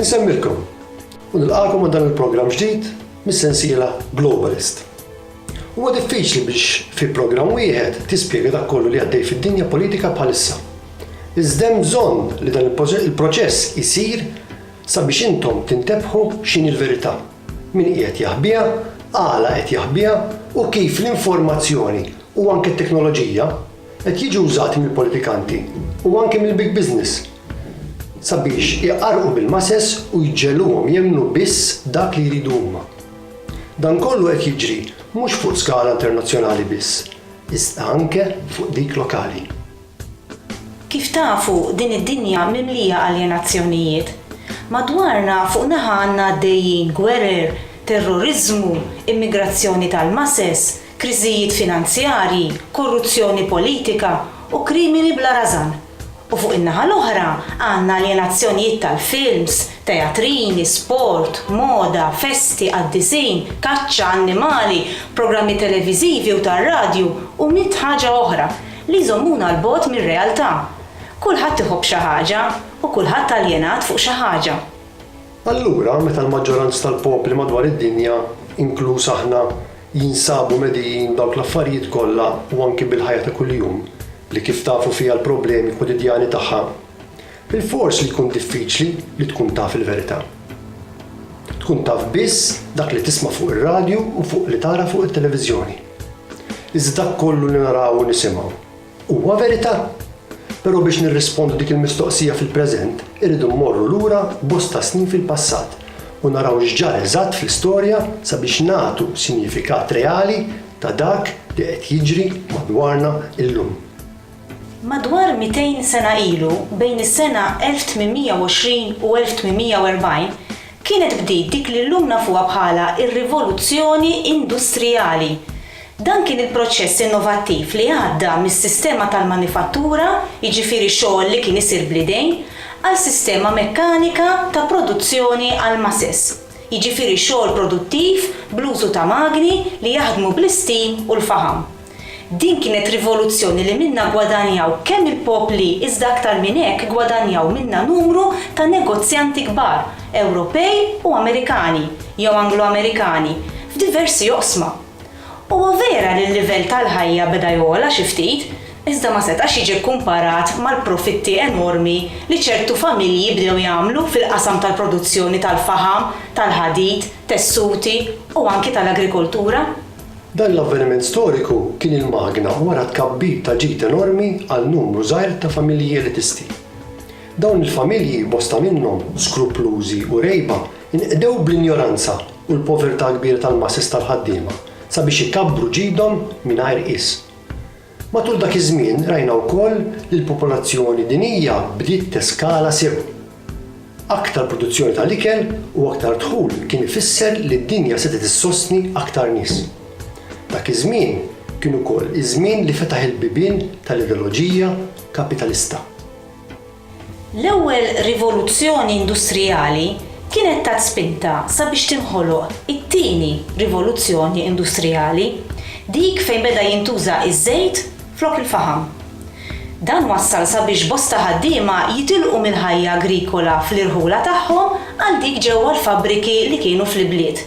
Insemmilkom u nilqakom għal dan il-programm ġdid mis-sensiela Globalist. Huwa diffiċli biex fi programm wieħed tispjega dak kollu li għaddej fid-dinja politika bħalissa. Iżda hemm bżonn li dan il-proċess isir sabiex intom tintebħu x'in il-verità. Min qiegħed jaħbiha, għala qed jaħbiha u kif l-informazzjoni u anke t-teknoloġija qed jiġu wżati mill-politikanti u anke mill-big business sabiex iqarrqu bil-masses u jġegħluhom jemmnu biss dak li jridu huma. Dan kollu qed jiġri mhux fuq skala internazzjonali biss, iżda anke fuq dik lokali. Kif tafu, din id-dinja mimlija aljenazzjonijiet. Madwarna fuq naħa għandna għaddejjin gwerer, terroriżmu, immigrazzjoni tal-masses, kriżijiet finanzjarji, korruzzjoni politika u krimini bla rażan. U fuq in-naħa l-oħra għandna aljenazzjonijiet tal-films, teatrini, sport, moda, festi, qaddisin, kaċċa, annimali, programmi televiżivi u tar-radju u mitt ħaġa oħra li jżommuna 'l bogħod mir-realtà. Kulħadd iħobb xi ħaġa u kulħadd aljenat fuq xi ħaġa. Allura, meta l-maġġoranz tal-popli madwar id-dinja, inkluż aħna, jinsabu medijin b'dawk l-affarijiet kollha u anki bil-ħajja ta' kuljum, li kif tafu fiha l-problemi kwotidjani tagħha, Bilfors li jkun diffiċli li tkun taf il-verità. Tkun taf biss dak li tisma' fuq ir-radju u fuq li tara fuq it-televiżjoni. Iżda dak kollu li naraw u nisimgħu, huwa verità? Però biex nirrispondu dik il-mistoqsija fil-preżent, irridu mmorru lura bosta snin fil-passat u naraw x'ġara eżatt fl-istorja sabiex nagħtu sinjifikat reali ta' dak li qed jiġri madwarna illum. Madwar 200 sena ilu, bejn is-sena 1820 u 1840, kienet bdiet dik li llum nafuha bħala r-Rivoluzzjoni Industrijali. Dan kien il-proċess innovattiv li għadda mis-sistema tal-manifattura, jiġifieri xogħol li kien isir bl-idejn, għal sistema mekkanika ta' produzzjoni għall-masses, jiġifieri xogħol produttiv bl-użu ta' magni li jaħdmu bl-istim u l-faħam. Din kienet rivoluzzjoni li minnha ggwadanjaw kemm il-popli iżda aktar minn hekk ggwadanjaw minnha numru ta' negozjanti kbar Ewropej u Amerikani, jew Anglo-Amerikani, f'diversi oqsma. Huwa vera li l-livell tal-ħajja beda jogħla xi ftit, iżda ma setax jiġi kkumparat mal-profitti enormi li ċertu familji bdew jagħmlu fil-qasam tal-produzzjoni tal-faħam, tal-ħadid, tessuti u anki tal-agrikoltura. Dan l-avveniment storiku kien il-magna wara t-tkabbir ta' ġid enormi għal numru żgħir ta' familji elitisti. Dawn il-familji, bosta minnhom skruplużi u rgħiba, inqdew bl-injoranza u l-povertà kbira tal-masses tal-ħaddiema sabiex ikabbru ġidhom mingħajr qies. Matul dak iż-żmien rajna wkoll li l-popolazzjoni dinjija bdiet teskala sew. Aktar produzzjoni tal-ikel u aktar dħul kien ifisser li d-dinja setgħet issostni aktar nies. Dak iż-żmien kien ukoll iż-żmien li fetaħ il-bibien tal-ideloġija kapitalista. L-ewwel rivoluzzjoni industrijali kienet tat spinta sabiex tinħoloq it-tieni rivoluzzjoni industrijali, dik fejn beda jintuża ż-żejt flok il-faħam. Dan wassal sabiex bosta ħaddiema jitilqu mill-ħajja agrikola fl-irħula tagħhom għal dik ġewwa l-fabbriki li kienu fl-ibliet.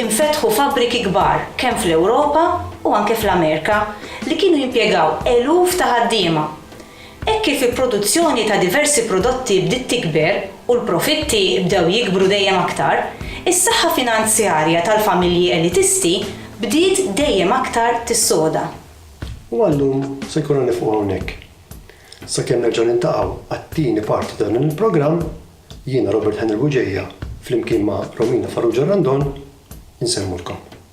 Infetħu fabbriki kbar kemm fl-Ewropa u anke fl-Amerika li kienu jimpjegaw eluf ta' ħaddiema. Hekk kif il-produzzjoni ta' diversi prodotti bdiet tikber u l-profitti bdew jikbru dejjem aktar, is-saħħa finanzjarja tal-familji elitisti bdiet dejjem aktar tissoda. U għal-lum se jkollna niqfu hawnhekk. Sakemm nerġgħu niltaqgħu għat-tieni parti ta' dan il-programm, jiena Robert Henry Bugeja flimkien ma' Romina Farrugia Randon insellmulkom.